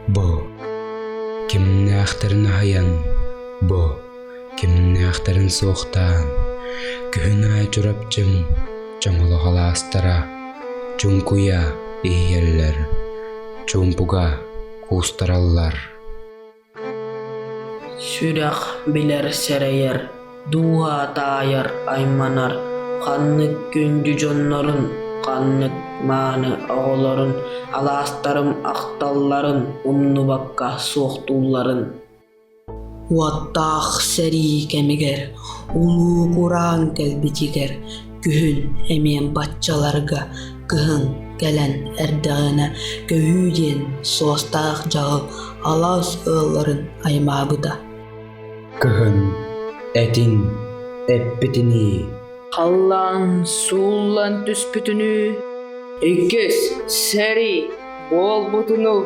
Бу кимнээхтэрин аһайан, бу кимнээхтэрин суохтаан, күһүн аайы Чурапчым чоҥолоһол аастара чуҥкуйа иһийэллэр, чуумпуга куустараллар. Сүрэх билэр сэрэйэр, дууһа таайар айманар ханнык күндү дьоннорун, ханнык мааны оҕолорун алаастарым ахталларын умнубакка суохтуулларын. Уоттаах сэрии кэмигэр, улуу кураан кэлбитигэр Күһүн эмиэ баччаларга кыһын кэлэн эрдэҕинэ көһүү диэн суостаах дьаһал алаас ыалларын аймаабыта. Кыһын этин эппитинии халлаан сууллан түспүтүнүү иккис сэрии буолбутунуу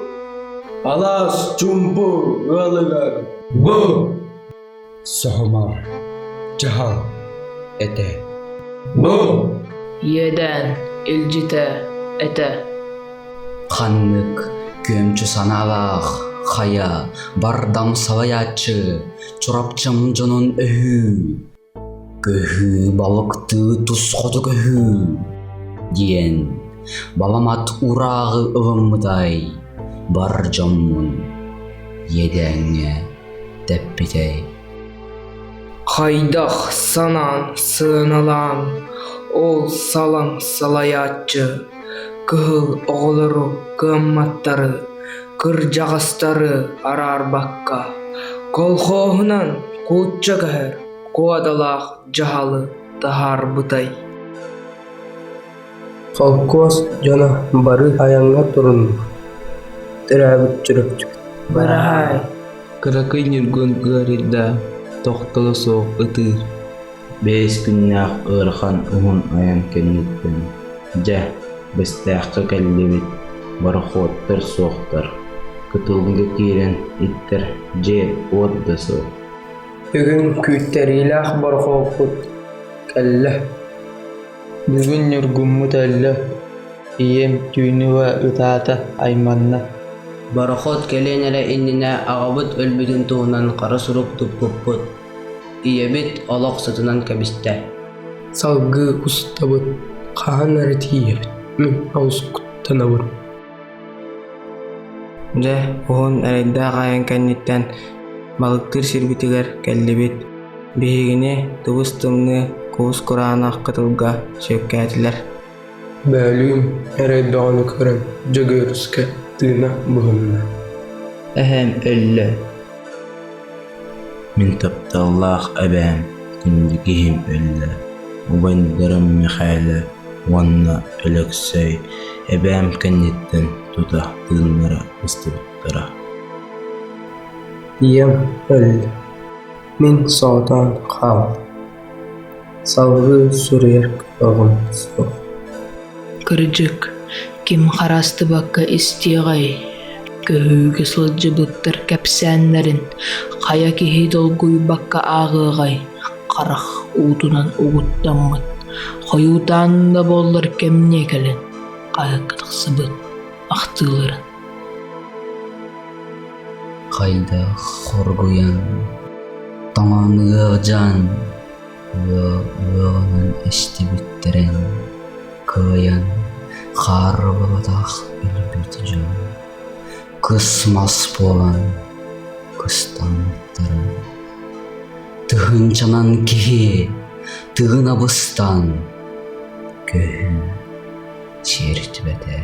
алаас чумпу ыалыгар бу Соһумар, дьаһал этэ. Иэдээн илдьитэ этэ. Ханнык күөмчү санаалаах хайа бардам салайааччы Чурапчым дьонун өһүү көһүү балыктыы тус хоту көһүү диэн баламат урааҕы ылыммытай бар дьоммун иэдээҥҥэ дэппитэй хайдах санаан сыаналаан ол салаҥ салайааччы кыһыл оҕолору кыамматтары кырдьаҕастары араарбакка колхоһунан кууча көһөр куодалаах дьаһалы таһаарбытай Холкуос дьоно бары айаҥҥа турунна, төрөөбүт Чурапчыга «Быраһаай!» кыракый ньургун ыарыйда, тохтоло суох ытыыр. Бэс күннээх ыарахан уһун айан кэнниттэн, дьэ, Бэстээххэ кэллибит, борохуоттар суохтар, кытылга киирэн иттэр дьиэ-уот да суох. Бүгүн күүттэриилээх борохуоппут кэллэ Бүгүн ньургуммут өллө, ийэм түүнүгэ ытаата, айманна Борохуот кэлиэн эрэ иннинэ аҕабыт өлбүтүн туһунан хара сурук туппуппут. Ийэбит олох сытынан кэбистэ. Салгыы устабыт, хаһан эрэ тиийэбит, мин олус куттанабын Дьэ, уһун эрэйдээх айан кэнниттэн балыктыыр сирбитигэр кэллибит. Биһигини тыбыс-тымныы куус кураанах кытылга сүөккээтилэр. Бөөлүүн эрэй бөҕөнү көрөн Дьөгүөрускэ тыына буһунна. Эһэм өллө. Мин тапталлаах эбээм, инники киһим өллө. Убайдарым Мэхээлэ уонна Өлөксөй эбээм кэнниттэн тута тыыннара ыстыбыттара ийэм өллө мин соҕотоон хааллым салгыы суруйар кыаҕым суох кырдьык ким хараастыбакка истиэҕэй көһүүгэ сылдьыбыттар кэпсээннэрин хайа киһи долгуйбакка ааҕыаҕай харах уутунан угуттаммыт, хойуутаан да буоллар кэмниэ кэлэн хаһыакка тахсыбыт ахтыыларын Хайдах хоргуйан тоҥон ыалдьан ыа ыалынан эстибиттэрин кыайан хаарбатах өлбүт дьон кыс мас буолан кыстаммыттарын Тыһыынчанан киһи тыгын абыстан көһүн сиэртибэтэ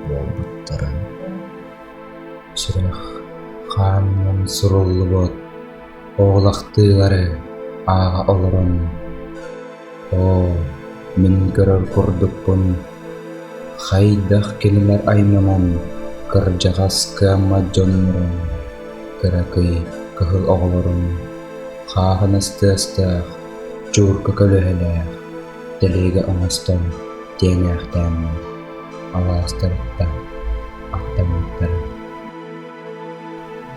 буолбуттарын сүрэх хаанынан суруллубут оҕолохтуулары ааҕа олорон Оо, мин көрөр курдукпун хайдах кинилэр айманан кырдьаҕас кыаммат дьоннорун, кыракый кыһыл оҕолорун хааһын ыстыастаах, чуурка көлөһэлээх, тэлиэгэ оҥостон тиэҥээхтээммин алаастарыттан ахтыммыттара.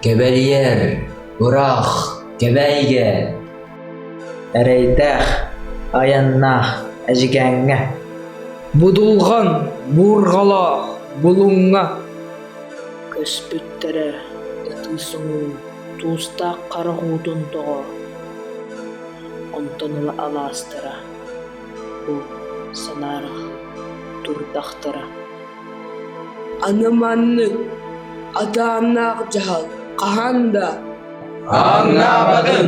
Кэбэлийэр, ыраах, кэбээйигэ Эрэйдээх, айаннаах Эдьигээҥҥэ, Будулҕан буурҕалаах Булуҥҥа көспүттэрэ ытыы соҥуу туустаах харах уутун тоҕо онтон ыла алаастара бу санаарах турдахтара Аны маннык атааннаах дьаһал хаһан да ааҥнаабатын